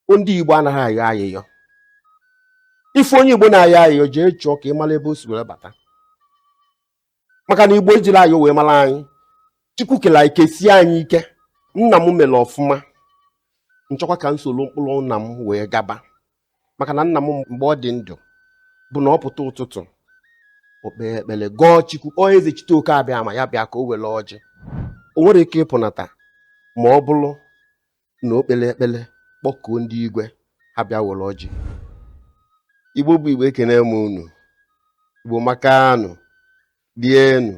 bụ ndị Igbo anaghị ayọ ayịyọ ị fụ onye Igbo na-ayọ ayịyọ jee chọọ ka ị mara ebe o si were bata maka na Igbo ejiri ayọ wee mara anyị Chukwu kere anyị kesie anyị ike nna m mere ọfụma m chọkwa ka m soro ụkpụrụ nna m wee gaba maka na nna m mgbe ọ dị ndụ bụ na ọ pụta ụtụtụ o kpee ekpere gọọ Chukwu kpọọ Ezechitoke Abịama ya bịa ka o were ọjị o nwere ike ịpụnata ma ọ bụrụ na o kpere ekpere kpọkuo ndị igwe ha bịa were ọjị igbo bụ igbo ekene m unu igbo makanụ lienụ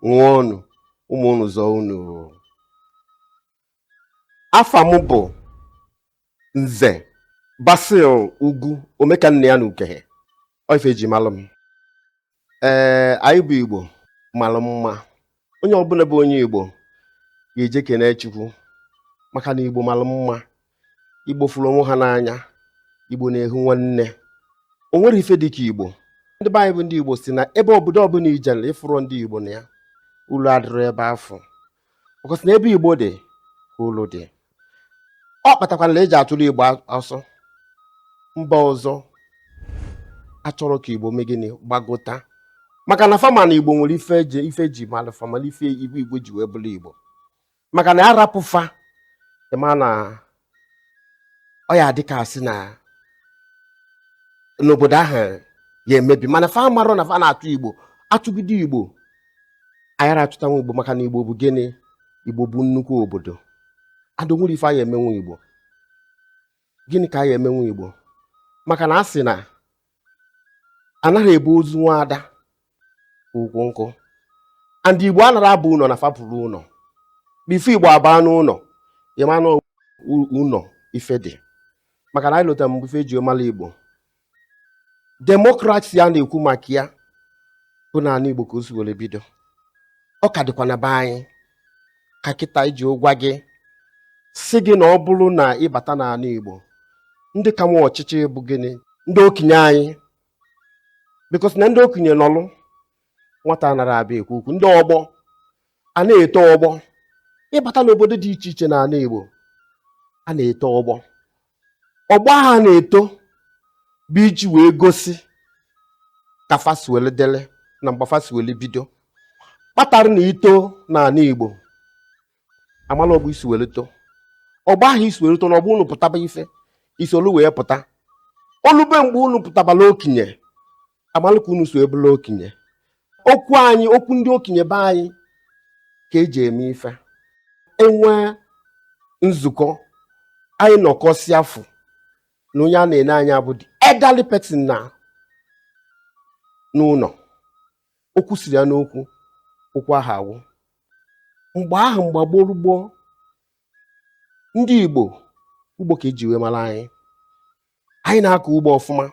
ṅụọnụ ụmụ unu zọọ unu afa m bụ nze basil ugwu omekanneya na ukehe ọ ife eji malụ m ee anyị bụ igbo malụ mma onye ọbụla bụ onye igbo ga-eje kene chukwu maka na igbo malụ mma igbo fụrụ onwe ha n'anya igbo na-ehu nwanne o nwere ife dị ka igbo ndị be anyị bụ ndị igbo sị na ebe obodo ọbụla i jele ị fụrụ ndị igbo na ya ulu adịrọ ebe afụ because na ebe igbo dị ka ulu dị ọ kpatakwara na eji achụrụ igbo ọsọ mba ọzọ achọrọ ka igbo mee gịnị gbagota maka na fa ma na igbo nwere ife eji malụ fa ma na ife igbo igbo ji wee bụrụ igbo maka na a rapụ fa ị ma na ọ ya-adị ka a sị na n'obodo ahụ ya-emebi mana fa amarọ na fa na-achụ igbo achụgide igbo a yara achụtanwu igbo maka na igbo bụ gịnị igbo bụ nnukwu obodo and o nwere ife a ya-emenwu igbo gịnị ka a ya-emenwu igbo maka na a sị na anara ebu ozu nwaada ukwu nkụ and igbo anara aba ụnọ na fa fụrụ ụnọ before igbo abaa n'ụnọ ị ma na ụlọ ife dị maka na anyị lota mgbe ife eji mara igbo demokrasi a na-ekwu maka ya bụ na anị igbo ka o si were bido ọ ka dịkwa na be anyị ka kịta iji gwa gị sị gị na ọ bụrụ na ị bata n'anị Igbo ndị ka nwe ọchịchị bụ gịnị ndị okenye anyị because na ndị okenye nọlụ nwata anara abịa ekwu okwu ndị ọgbọ a na-eto ọgbọ ị bata n'obodo dị iche iche n'anị Igbo a na-eto ọgbọ ọgbọ ha na-eto bụ iji wee gosi ka fa si wele dele na mgbe fa si wele bido kpatara na i too n'anị igbo a mala ọgbọ i si were too ọgbọ ahụ i si were too na ọgbọ unu pụtaba ife i solu wee pụta o lube mgbe unu pụtabala okenye amalụ ka unu so ebula okenye okwu anyị okwu ndị okenye be anyị ka eji eme ife enwe nzukọ anyị nọkọsịa a fụ na onye a na-ene anya bụ the elderly person nọ n'ụnọ okwu siri ya n'okwu okwu ahụ agwụ mgbe ahụ mgbe gboo gboo ndị igbo ugbo ka eji wee mara anyị anyị na-akọ ugbo ọfụma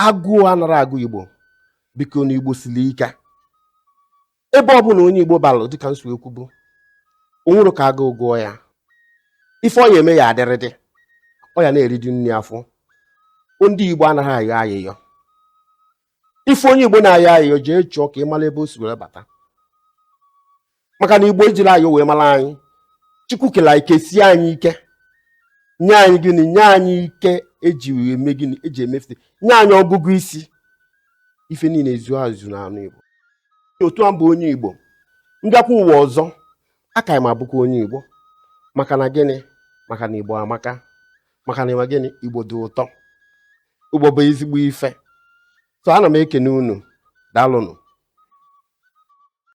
agụụ anara agụ igbo bikonu igbo sili ike ebe ọ bụla onye igbo balụ dịka m so ekwubu o nwerọ ka agụụ gụọ ya ife ọ ya eme ya adịrịdị ọ ya na-eriju nri afọ ndị igbo anara ayọ ayịyọ ị fụ onye igbo na-ayọ ayịyọ jee chọọ ka ị mara ebe o si were bata maka na igbo ejirọ ayọ wee mara anyị chukwu kele anyị kesie anyị ike nye anyị gịnị nye anyị ike eji eme gịnị eji emefụte nye anyị ọgụgụ isi ife niile ezu ezu na anị igbo otu a m bụ onye igbo m bịakwa ụwa ọzọ aka m abụkwa onye igbo maka na gịnị maka na igbo amaka maka na ịma gịnị igbo dị ụtọ igbo bụ ezigbo ife so ana m ekene unu daalụnụ